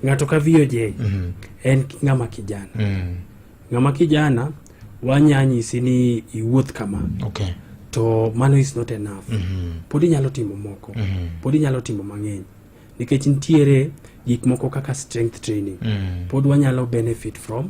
ng'ato ka VOJ mm. en ng'ama kijana mm. ng'ama kijana wanya nyisi ni iwuoth kama okay. to mano is not enough mm -hmm. pod inyalo timo moko mm -hmm. pod inyalo timo mang'eny nikech nitiere gik moko kaka strength training mm. pod wanyalo benefit from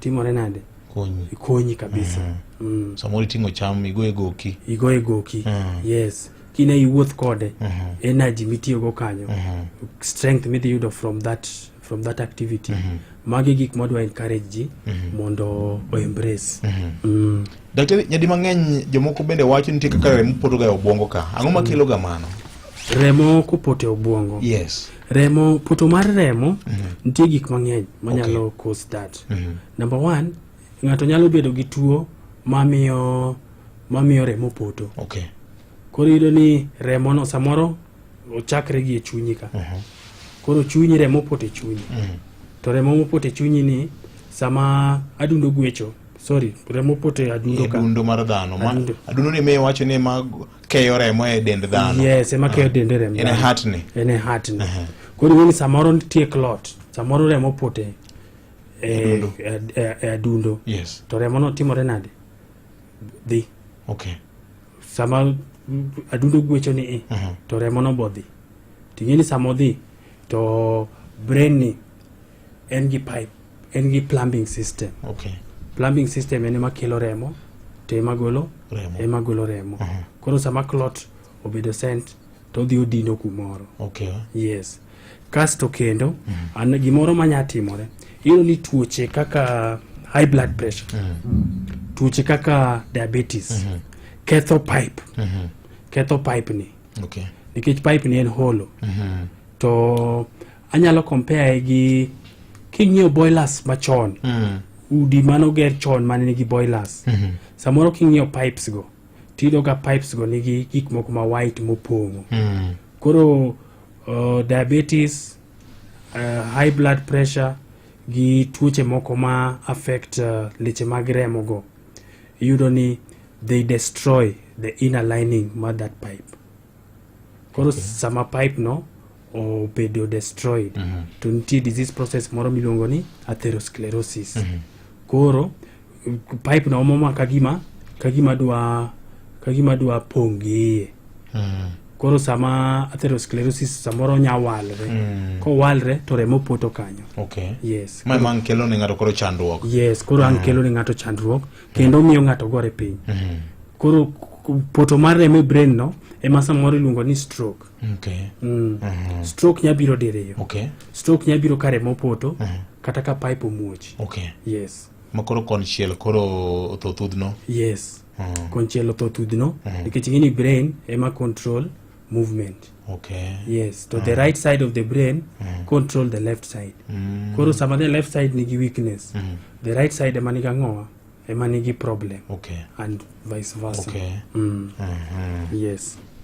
timore nade konyi konyi kabisa mm. Mm. samoro iting'o cham igoye goki igoye goki mm. yes kina iwuoth kode mm -hmm. energy mitiyogo kanyo mm -hmm. strength midhi yudo from that from that activity mm -hmm. magi gik mwadwa encourage ji mm -hmm. mondo oembrace mm -hmm. mm. daktari nyadi mang'eny jomoko bende wacho nitie kaka remo potoga e obwongo ka ang'o makeloga mano remo kopoto e obwongo yes remo poto mar remo mm -hmm. nitie gik mang'eny manyalo okay. cause that mm -hmm. number one ng'ato nyalo bedo gi tuo mamiyo mamiyo remo poto okay. koro iyudo ni remono samoro ochakre gi e chunyi ka mm -hmm. koro chunyi remo poto e chunyi mm -hmm. to remo mopoto e chunyi ni sama adundo gwecho sorry remo poto e adundo ka adundo mar dhano adundo ni me wacho ni ma keyo remo e dend dhano yes ema keyo dende remo en e hatni en e hatni uh -huh. koro ing'eni samoro nitie clot samoro remo pote e, e, e, e adundo yes. to remono timore nade dhi okay. sama adundo gwecho ni i uh -huh. to remono bodhi ting'eni sama odhi to brain ni en gi pipe en gi plumbing system okay. plumbing system en ema kelo remo to ema golo Remo. ema golo remo Aha. koro sama clot obedo sent to odhi odino kumoro Okay. yes kasto kendo an gimoro manya timore iyudo ni tuoche kaka high blood pressure tuoche kaka diabetes ketho pipe ketho pipe ni Okay. nikech pipe ni en holo to anyalo compare gi king'iewo boilers machon mm. udi mane oger chon mane nigi boilers mm -hmm. samoro king'iewo pipes go tiyudo ka pipes go nigi gik moko ma white mopong'o mm. koro uh, diabetes uh, high blood pressure gi tuoche moko ma affect uh, leche mag remo go iyudo ni they destroy the inner lining ma that pipe koro okay. sama pipe no obedo destroyed mm -hmm. to nitie disease process moro miluongo ni atherosclerosis mm -hmm. koro pipe na omoma kagima kagima dwa kagima dwa pong' gi iye mm -hmm. koro sama atherosclerosis samoro nya walre mm. kowalre to remo poto kanyo okay. yes ma man kelo ne ng'ato koro chandruok yes koro mm. an kelo ne ng'ato chandruok kendo mm. miyo ng'ato gore piny mm. koro poto mar remo e brain no ema samoro iluongo ni stroke Okay. Mm. Uh -huh. Stroke nya biro diriyo. Okay. Stroke nya biro kare mopoto uh -huh. kata ka pipe omuoch. Okay. Yes. Makoro konchiel koro otho thudhno. Yes. Uh -huh. Konchiel otho thudhno uh -huh. nikech ngini brain ema control movement. Okay. Yes, to uh -huh. the right side of the brain uh -huh. control the left side. Uh mm. -huh. Koro sama the left side nigi weakness, uh mm. -huh. the right side ema niga ng'owa ema nigi problem. Okay. And vice versa. Okay. Mm. Uh mm-hmm. -huh. Yes.